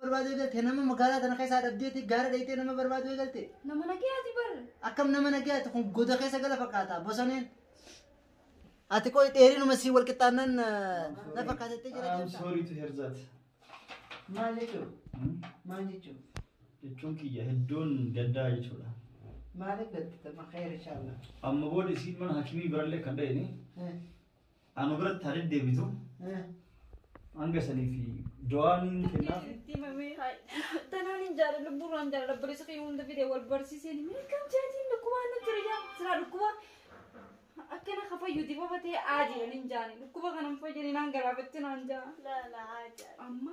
barbaaduu eegalte nama magaalaa tana keessaa dhabdeeti gaara dhayitee nama barbaaduu eegalte Nama nagayaati bar. akkam nama nagayaati kun goda keessa gala fakkaata bosoneen ati qoy dheerinuma sii wal qixxaannaan na fakkaatattee jira I'm deemta sorry to hear that. maal jechuun Hmm? maal jechuun Jechuun kiyya hedduun gaddaa jechuudha. maal eeggatte tama khayr inshallah Amma booda isiin mana hakimii birallee kan dha'ini Anu biratti haa deddeebitu. Hanga sanii fi du'aa ni kennaaf. Itti mamee tanaan hin jaalladhu lubbuurraa hin jaalladhu barreessa kee hunda fide wal barsiiseen miikam jaatiin dhukkubaa na jira jaa siraa dhukkuba akkana ka fayyuti fafa ta'e aajiran hin jaani dhukkuba kanan fayyani naan garaafatte naan jaa amma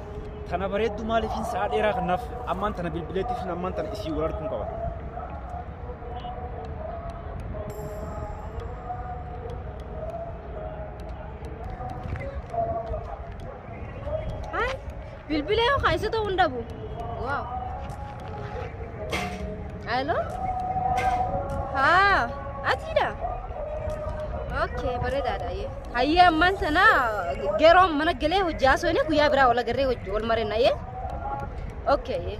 Tana bareeddu maaliif hin sa'a dheeraa kanaaf ammaan tana bilbileetti fi ammaan tana isii wal arguun qaba. Hai, bilbila yoo kaayisota hundabu. Waaw. Alo? Haa, atiidha? Okay, bareedaadha. yee. Hayyee ammaan sana yeroo mana galee hojii haasofne guyyaa biraa wal agarree hojii wal marina yee. Okay. yee.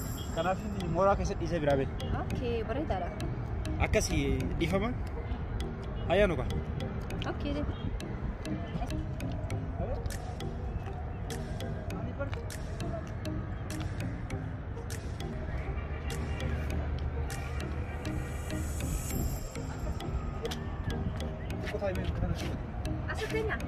Kanaaf mooraa keessa dhiisee biraa bee. Okay, bareedaadha. Akkasi dhiifama. Ayyaanu kaa. Okay, deema. Asirratti nyaata.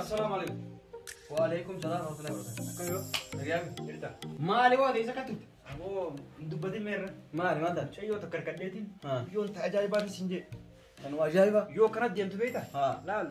Assalamu alaikum. Wa alaikum salam wa rahmatullahi wa barakatuh. Akkam yoo? Nagayaan jirta? Maali waa ta'e isa kattutti? Aboo dubbatiin meerra. Maali maal taate? Shayyoo takka harkadheetiin. Haa. Yoon ta'a ajaa'ibaatiin siin jee. Kan waa ajaa'ibaa. Yoo kanatti deemtu beekta? Haa. Laal.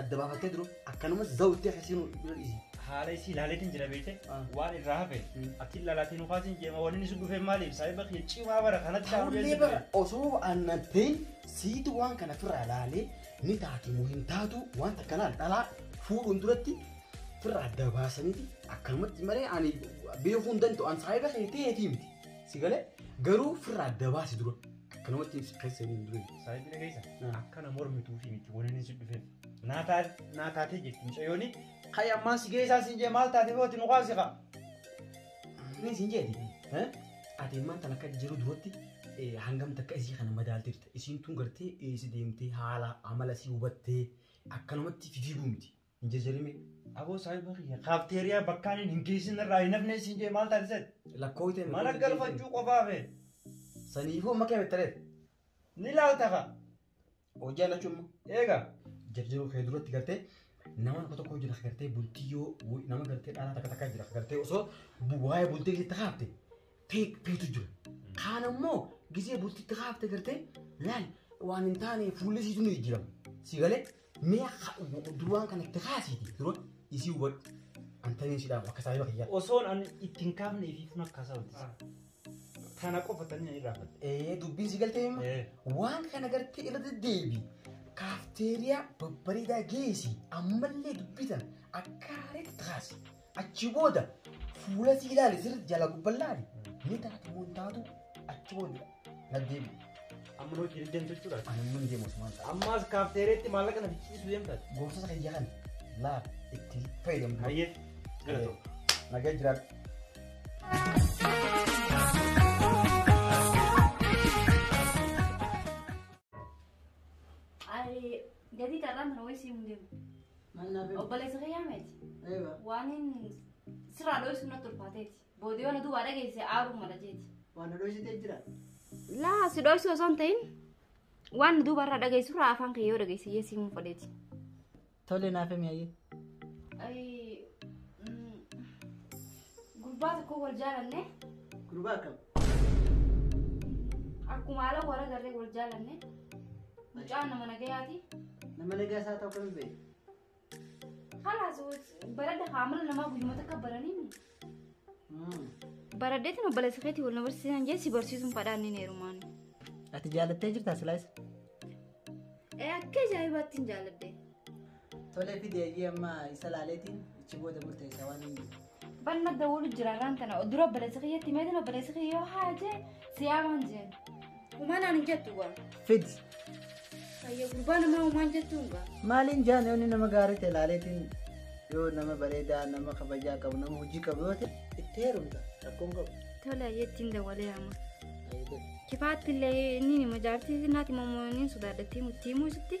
adda baafattee duru akkanumas zawuttee keessinu bira dhiisi. haala isii ilaaleetiin jira beekte Ah. waan irraa hafe Mm. ati ilaalaatiin ukaasiin jeema waliin isin dhufee maaliif saahiba kiyya cimaa bara kanatti shaawuu Haallee beeksisa bara osoo aannan ta'in siitu waan kana firraa laalee ni taati moo hin taatu waan takka laal dhalaa fuudhuun duratti firraa adda baasaniiti akkanumatti malee ani beekuu hin danda'u an saahiba kee ta'eetii miti si galee garuu firraa adda baasi dura. Akkanumatti ibsa keessa hin durin. Saayibina keessa Ah. akkana mormituufi miti waniin si dhufeef. Naa taa- naa taatee jirti mucayyooni. Kayi ammaan si geessaa siin jee maal taatee booti nu kaasi kaa. Inni siin jeeti. eh? Ati ammaan tan akka jiru duratti eh, hangam takka isii kana madaalteerta. Isiin tun gartee eessi deemtee haala amala si hubattee akkanumatti fifiiguu miti. hin jijjiirimi. Aboo saahiba kiyya kaafteeriyaa bakkaan hin hin geessin irraa hin hafne siin jee maal taate seet? Lakkoo ta'e Mana galfachuu qofaa fee. Saniifuu makee bettareef. Ni laalta ka. Hojii annachuu immoo. Eega. Jajjaboo kee duratti gartee nama tokko tokko jira gartee bultii yoo nama gartee dhalaa takka takka jira gartee osoo waa'ee bultii keessa kaafte feek feetu jira. Kaan ammoo gisee bultitti kaafte gartee laal waan hin taane fuulli isiitu ni jijjiirama. Si galee mee ha- duraan kana itti kaasiiti dura isii hubadhu. Antaniin si dhaabu akka saahiba kiyyaa. Osoon an ittiin kaafne fi fun akka isaa hojjisa. Tana qofa tanii na irraa fatte. Ee dubbiin si galtee hima. Ee. Waan kana gartee irra deddeebi. Kaafteeriyaa babbareedaa geessi ammallee dubbisan akka haareetti kaasi. Achi booda fuula si ilaali sirri jala gubban laali. Ni taatu moo hin taatu achi booda na deebi. Amma hojii hin deemtu jechuudha. Ani immoo hin deemu osuma hin taatu. Ammaas kaafteereetti maallaqa na fichiisuu deemtaati. Gorsa kiyya kana laal itti fayyadamu. Hayyee galatoo. Nagaa jiraadhu. Ay, jadi karena menulis sih mungkin. Mannaa fi Obboleessa kiyyaa meeti. eeba. Waan hin sirraa dho'isu natti ulfaateeti. Boodee waan duubaa dhageesse aaruu mala jeeti. Waan nu dhoysitee jira. Laa si dho'isu osoo hin ta'in waan duuba irraa dhageessu irraa afaan kee yoo dhageesse iyyee siimuu fadheeti. Tole naaf himi ayyee. Ayii Gurbaa tokko wal jaalanne. Gurbaa akkam? Akkuma haala warra garree wal jaalanne. Mucaan nama nagayaati. Nama nagaa isaa ta'u kami ba'e? Kalaas baradda haamala namaa guyyuma takka baraniin. Baraddeetiin obboleessa keetii wal na barsiisan jee si barsiisuun fadhaan ni heerumaan. Ati jaalattee jirtaa silaayisa? Ee akka ajaa'ibaatti hin jaaladde. Tole fidi ayyii amma isa laaleetiin ichi booda murteessa waan hin jiru. Ban madda wolu jira ran tana odura obboleessi kiyyatti meetin obboleessi kiyya yoo haaje siyaa waan jeen. Umanaan hin jettu waan. Fid Hayya gurbaa namaa umaan jettuun gaa. maaliin jaan yoonni nama gaarii ta'e laaleetiin yoo nama bareedaa nama kabajaa qabu nama hojii qabu yoo ta'e itti heerumta rakkoon qabu. Tole ayyeettiin dawalee amma. Ayyii ta'e. Kifaatti illee inni nima jaartii naati mammoo inni sodaadhattii muttii muusitti.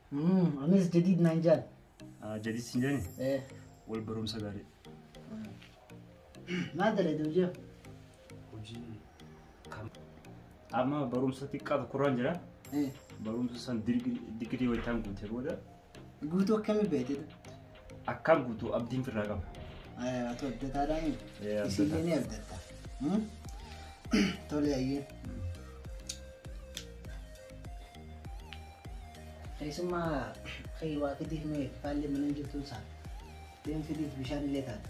Mm, anis jadiid naan jaan. Ah, Jadid sin jani. Eh, Wal barumsa gaarii. maal dalagde hojii? Hojii kam? Amma barumsa xiqqaa tokkorraan jira. Eh, Barumsa san digrii waytaan guutee booda guutuu akkamii beekte? Akkaan guutuu abdiin firraa qaba. Atu abdataadhaa mi? Ee, abdata. Isillee ni abdatta. Hmm? Tole ayyee. Keessummaa kee waa fidiif mee faallee mana jirtu isaa. Deem fidiif bishaan illee taate.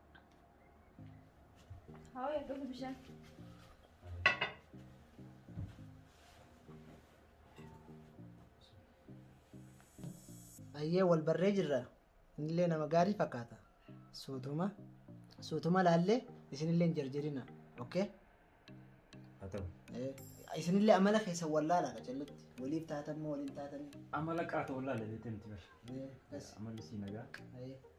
Haa wayyaa dhufu bishaan. Ayyee wal barree jirra. Innillee nama gaarii fakkaata. Suutuma suutuma laallee isinillee hin jarjarina. Okay? Haa ta'u. Eh, Isinillee amala keessan wallaalaa qacallatti. Waliif taatan moo waliin taatanii? Amala qaata wallaalee beekte miti bar. Eh, kas. Amalli sii nagaa. Eh.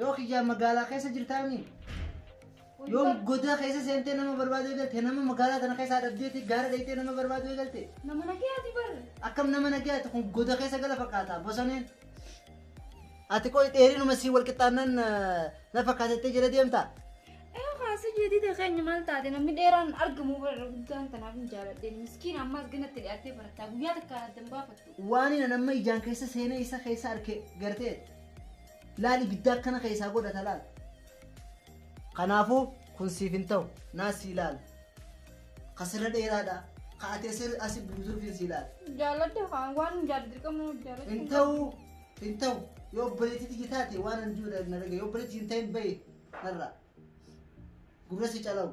Yoo kiyyaa magaalaa keessa jirtaanii yoo godaa keessa seentee nama barbaaduu eegalte nama magaalaa kana keessaa dhabdeeti gaara dhayitee nama barbaaduu eegalte Nama nagayaati bar. akkam nama nagayaati kun goda keessa gala fakkaata bosoneen. Ati qoy dheerinuma sii wal qixxaannaan na fakkaatettee jala deemta. Ee kaasa jedhite keenya maal taate namni dheeraan argamu bara guddaan tanaaf hin jaaladhe miskiin ammaas ganatti dhiyaatee barataa guyyaa takka addan baafatte. Waaniin an amma ijaan keessa seenee isa keessa arke gartee laal ibidda akkana keessaa godhata laal. Kanaafuu kun siif hin ta'u naa sii laal. Ka sirra dheeraadha. Ka ati asi asi buutuuf hin sii laal. Jaaladha haa waan jaalladhu dirqama jaalladhu. Hin ta'u hin ta'u yoo obboleettii tiyya taate waan an jiru na dhagaye yoo obboleettii hin ta'in bahe narraa. Gurra si calawu.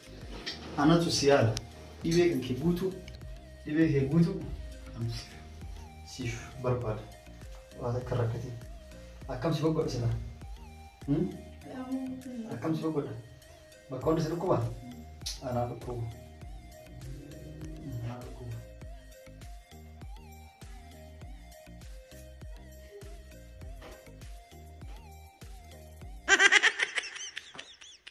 Anatu si yaala. Dhibee kan kee guutuu. Dhibee kee guutuu. Anatu si yaala. Siif barbaada. Waan akka rakkatiin. Akkam si boqodha silaa? Hmm? Akkam si boqodha? Bakka hunda si dhukkuba? Anaa dhukkubu. Anaa dhukkubu.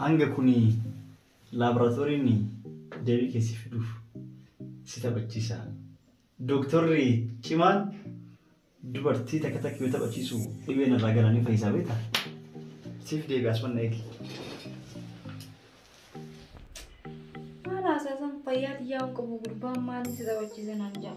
Hanga kuni laaboraatooriin deebii kee si fiduuf si taphachiisa. Dooktorri cimaan dubartii takka takka yoo taphachiisu dhibeen irraa galanii fayyisaa beektaa? Siif deebi'a asuma na eegi. Haala haasaasan fayyaa xiyyaa hin qabu gurbaan maaliin si taphachiisa naan jedha.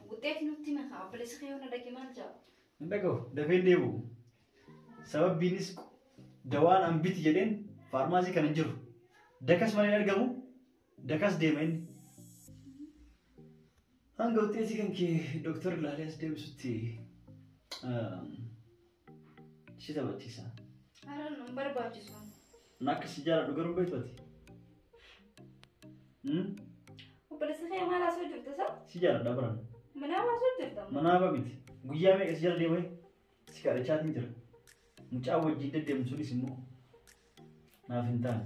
Wuxxeeti nutti himi kaa obboleessi kee yoo na dhage maal ja'a? Hin dhagahu dafee hin deebi'u. Sababbiinis dawaan an biti jedheen faarmaasii kana hin jiru. Dakas malee hin argamu dakas deema inni. Hanga wuxxeetii kan kee dooktarri ilaalee as deebisutti. Si taphachiisaa. Har'a nu hin barbaachisu. Ani akka si jaaladhu garuu beektu ati. Hmm? Obboleessa kee maal haasoo jirta sa? Si jaaladha baran. Manaa haasoo jirta. Manaa ba miti. Guyyaa meeqa si jala deemee si kadhachaatiin jira. Mucaa wajjin deddeemu sunis immoo Naaf hin taane.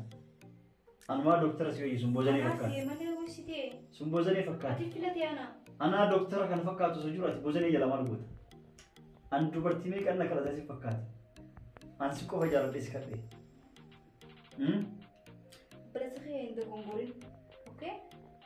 Anumaa dooktara si wayyu sun boozanee Anaa fakkaata. deemalee hoositee. Sun boozanee fakkaata. Ati filatee anaa. Anaa dooktara kan fakkaatu osoo jiru ati boozanee jala maal goota? An dubartii meeqan na kadhatan si fakkaata. An si qofa jaaladhee si kadhee. Hmm? Bilasa kee hin dogongorin. Okay?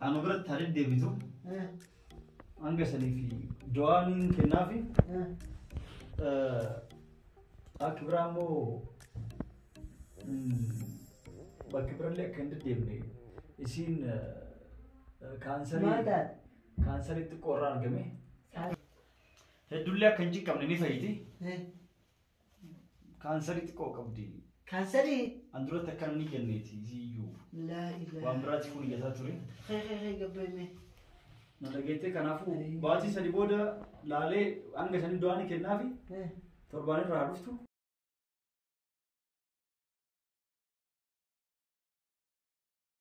Anu biratti haa deddeebitu. Hanga sanii fi du'aa niin kennaafi. Akka biraa immoo bakka birallee akka hin deddeebine isiin kaansarii kaansarii xiqqoo irraa argame. Heddullee akka hin ciqqabne ni fayyiti. Kaansarii xiqqoo qabdi. Kaansarii. An duratti akkana ni kenneeti isiyyuu. Laa ilaa. Waan biraatti fuun iyyataa ture. Hee hee hee gabbeeme. Na dhageettee kanaafuu baatii sadi booda laalee hanga sanii du'aa ni kennaafi torbaan irraa haa dhuftu.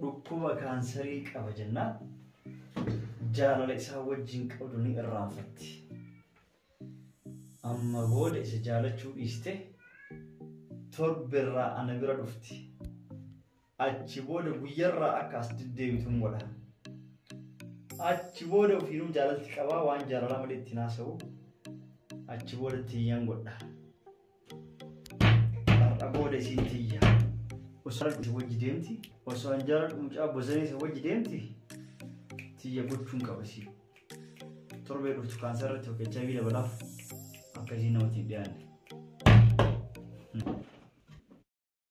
dhukkuba kaansarii qaba jennaan jaalala isaa wajjin qabdu ni irraanfatti. Amma booda isa jaalachuu dhiiste torberraa ana bira dhufti. Achi booda guyyarraa akka as deddeebitu hin godha. Achi booda ofiinuu jaalalti qabaa waan jaalalaa malee ittiin haasa'u. Achi booda tiyyaan godha. Har'a booda isiin tiyya. Osoo isa wajji deemti. Osoo an jaaladhu mucaa bosanii isa wajji deemti. Tiyya gochuun qaba isii. Torbee dhuftu kaansaa irratti yookiin HIV dabalaaf akka isiin namatti hin dhiyaanne.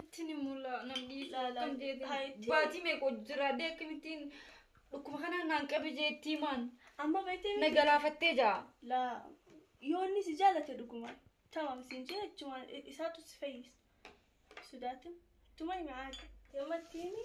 Ittiin hin mulla namni Ilaalaa akkam jeetti jettee- haa itti baatii meeqa hojii jira dee akkamittiin dhukkuba kanaan naan qabe jeetti himaan Amma beektee na galaafattee jaa. laa yoo inni si jaalate dhugumaan tamam siin jee achumaan isaatu si fayyisa. Sudaatin tuma himi aadde. Yamatti himi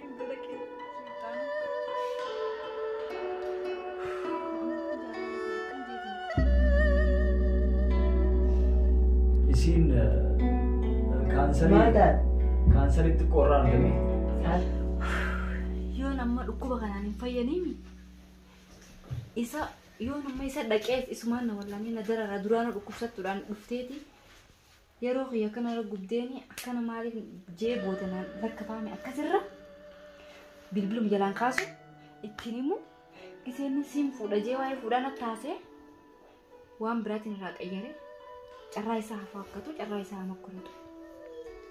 Isiin kaansarii Maal taate? kaansarii xiqqoo irraa argame. Maal? Yoo nama dhukkuba kanaan hin fayyaniimi. Isa yoo nama isa dhaqeef isumaan na wallanee na darara duraanuu dhukkubsattuudhaan dhufteeti. yeroo kiyya kanarra gubdeeni akkana maaliif jee booda naan lakkafaame akkasirra bilbilum jalaan kaasu ittiin himu giseenni siin fuudha jee waa'ee fuudhaa natti haasee waan biraatiin irraa qayyare carraa isaa haa faakkatu carraa isaa haa mokkoratu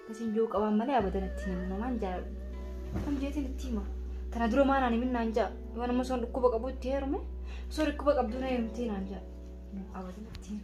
akkasiin yoo qabaan malee abadan itti himu namaan jaaladhu kam jeetiin itti hima tana dura maa naan himin naan ja'a yoo nama soon dhukkuba qabu itti heerume soon dhukkuba qabdu na heerumtee naan ja'a abadan itti himu.